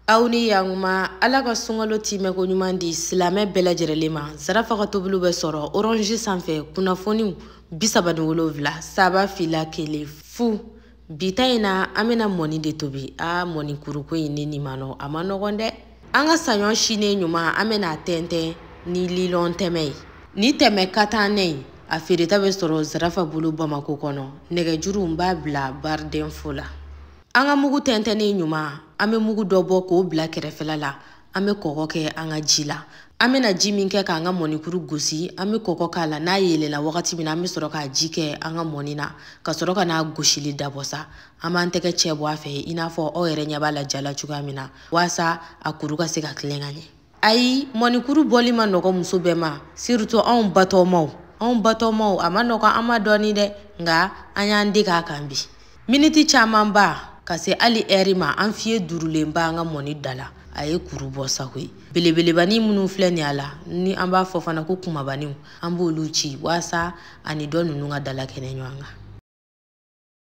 aw ni yanguma ala ka sunkalo tɛmɛko ɲuman di silamɛ bɛɛ lajɛrɛlen ma zarafa ka tobiliw bɛ sɔrɔ orange sanfɛ kunnafoniw bisaba ni wolonwula saba fila kelen fu bi ta in na an bɛna mɔni de tobi a mɔnikuruko in ne nimanw a man nɔgɔn dɛ an ka saɲɔ sinen ɲuman an bɛna a tɛntɛn ni lilɔn tɛmɛ ye ni tɛmɛ ka taa nɛ ye a feereta bɛ sɔrɔ zarafa bolo bamako kɔnɔ nɛgɛjuru n b'a bila barre d'info la an ka mugu tɛntɛnnen ɲuman an bɛ mugu dɔ bɔ k'o bila kɛrɛfɛla la an bɛ kɔgɔ kɛ an ka ji la an bɛna ji min kɛ k'an ka mɔnikuru gosi an bɛ kɔgɔ k'a la n'a yelenna wagati min na an bɛ sɔrɔ k'a ji kɛ an ka mɔni na ka sɔrɔ ka n'a gosili dabɔ sa an b'an tɛgɛ cɛ bɔ a fɛ i n'a fɔ aw yɛrɛ ɲɛ b'a la ja la cogoya min na waasa a kuru ka se ka tilen ka ɲɛ ayi mɔnikuru bɔli man nɔgɔ muso bɛɛ ma surtout anw batɔmaw anw batɔmaw a man nɔgɔ an ma dɔɔni dɛ nka an y'an dege a kan bi miniti camanba ka se hali ɛri ma an fiye durulen b'an ka mɔni da la a ye kuru bɔ sa koyi belebelebanin minnu filɛ nin a la ni an b'a fɔ fana ko kumabaninw an b'olu ci waasa a ni tɔ ninnu ka dalakɛɲɛ ɲɔgɔn kan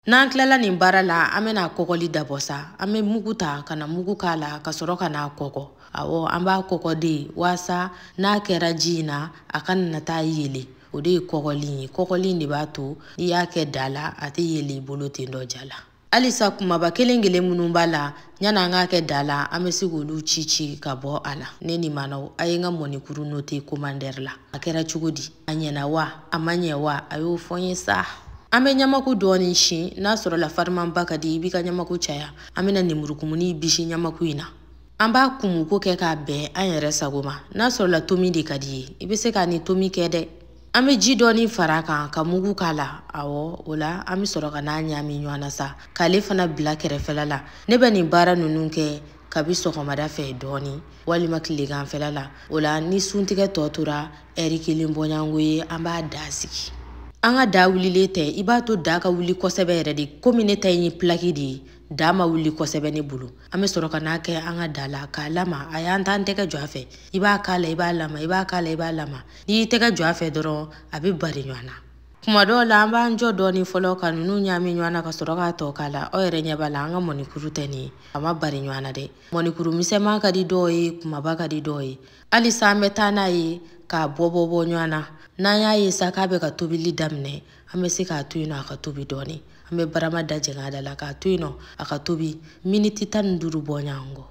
N'an tilala nin baara la an bɛna kɔgɔli dabɔ sa an bɛ mugu ta ka na mugu k'a la ka sɔrɔ ka n'a kɔgɔ awɔ an b'a kɔgɔ de waasa n'a kɛra ji in na a kana taa yelen o de ye kɔgɔli ye kɔgɔli de b'a to n'i y'a kɛ da la a tɛ yelen i bolo ten dɔ ja la halisa kumaba kelen kelen minnu b'a la Yanni an k'a kɛ da la an bɛ se k'olu ci ci ka bɔ a la ne nimanw a ye n ka mɔnikuru noter commentaire la a kɛra cogo di a ɲɛna wa a ma ɲɛ wa a y'o fɔ n ye sa an bɛ ɲamaku dɔɔnin sin n'a sɔrɔla farimanba ka di i b'i ka ɲamaku caya an bɛna nemurukumuni bisi ɲamaku in na an b'a kumuko kɛ k'a bɛn an yɛrɛ sago ma n'a sɔrɔla tomi de ka di i ye i bɛ se k'a ni tomi kɛ dɛ an bɛ ji dɔɔni fara kan ka mugu k'a la awɔ o la an bɛ sɔrɔ ka n'a ɲaami ɲɔgɔn na sa k'ale fana bila kɛrɛfɛla la ne bɛ nin baara ninnu kɛ kabi sɔgɔmada fɛ dɔɔni walima tileganfɛla la o la ni suntigɛ tɔ tora ɛri kelen bɔɲango ye an b'a da sigi an ka da wulilen tɛ i b'a to da ka wuli kosɛbɛ yɛrɛ de komi ne ta in ye pilaki de ye da ma wuli kosɛbɛ ne bolo an bɛ sɔrɔ ka n'a kɛ an ka da la k'a lama ayi an t'an tɛgɛ jɔ a fɛ i b'a k'a la i b'a lama i b'a k'a la i b'a lama n'i y'i tɛgɛ jɔ a fɛ dɔrɔn a bɛ bari ɲɔgɔn na kuma dɔw la an b'an jɔ dɔɔni fɔlɔ ka nunu ɲaami ɲɔgɔn na ka sɔrɔ k'a tɔ k'a la aw yɛrɛ ɲɛ b'a la an ka mɔnikuru tɛ nin ye a ma bari ɲɔgɔn na dɛ mɔnikuru misɛnman ka di dɔw ye kumaba ka di dɔw ye halisa an bɛ taa n'a ye k'a bɔ bɔ bɔ ɲɔgɔn na n'an y'a ye sa k'a bɛ ka tobili daminɛ an bɛ se k'a to yen nɔ a ka tobi dɔɔni an bɛ barama da jɛngɛ a da la k'a to yen nɔ a ka tobi miniti tan ni duuru bɔɲɔgɔnko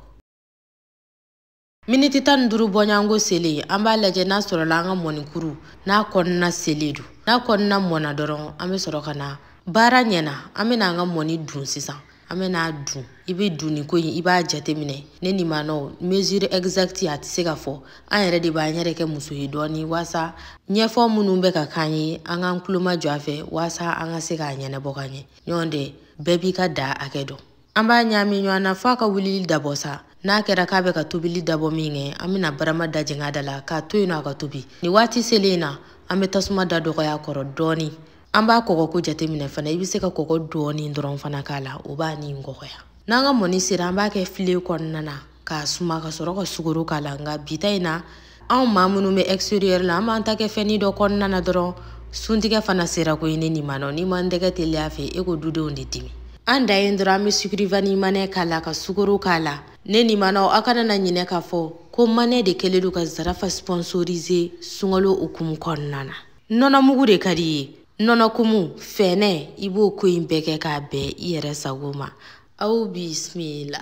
miniti tan ni duuru bɔɲɔgɔnko selen an b'a lajɛ n'a sɔrɔla an ka mɔnikuru n'a kɔnɔna selen don n'a kɔnɔna mɔna dɔrɔn an bɛ sɔrɔ ka na baara ɲɛna an bɛna an ka mɔni dun sisan an bɛna dun i bɛ dunni ko in i b'a jateminɛ ne ni manɔw mesure exacte a tɛ se ka fɔ an yɛrɛ de b'an yɛrɛ kɛ muso ye dɔɔni waasa ɲɛfɔ minnu bɛ ka k'an ye an k'an tulo majɔ a fɛ waasa an ka se k'a ɲɛnabɔ ka ɲɛ ɲɔgɔn tɛ bɛɛ b'i ka da hakɛ dɔn an b'a ɲaami ɲɔgɔn na f'a ka wulili dabɔ sa n'a kɛra k'a bɛ ka tobili dabɔ min kɛ an bɛna barama da jɛngɛ a da la k'a to yen nɔ a ka tobi nin waati selen in na an bɛ tasuma da dɔgɔya kɔrɔ dɔɔni an b'a kɔgɔ ko jateminɛ fana i bɛ se ka kɔgɔ dɔɔni dɔrɔn fana k'a la o b'a ni kɔgɔya n'an ka mɔni sera an b'a kɛ filen kɔnɔna na k'a suma ka sɔrɔ ka sukaro k'a la nka bi ta in na anw maa minnu bɛ extérieur la an b'an ta kɛ fɛnnin dɔ kɔnɔna na dɔrɔn suntigɛ fana sera koyi ne nin ma nɔ n'an m'an tɛgɛ teliya fɛ e ko dudenw de dimi an da yen dɔrɔn an bɛ sucre vanillé manɛ k'a la ka sukaro k'a la ne nin manɔ aw kana na ɲinɛ k'a fɔ ko manɛ de kɛlen don ka zarafa sponsoriser sunkalo hukumu kɔnɔna na nɔnɔmugu de ka di i ye nɔnɔkumu fɛnɛ i b'o ko in bɛɛ kɛ k'a bɛn i yɛrɛ sago ma aw bisimila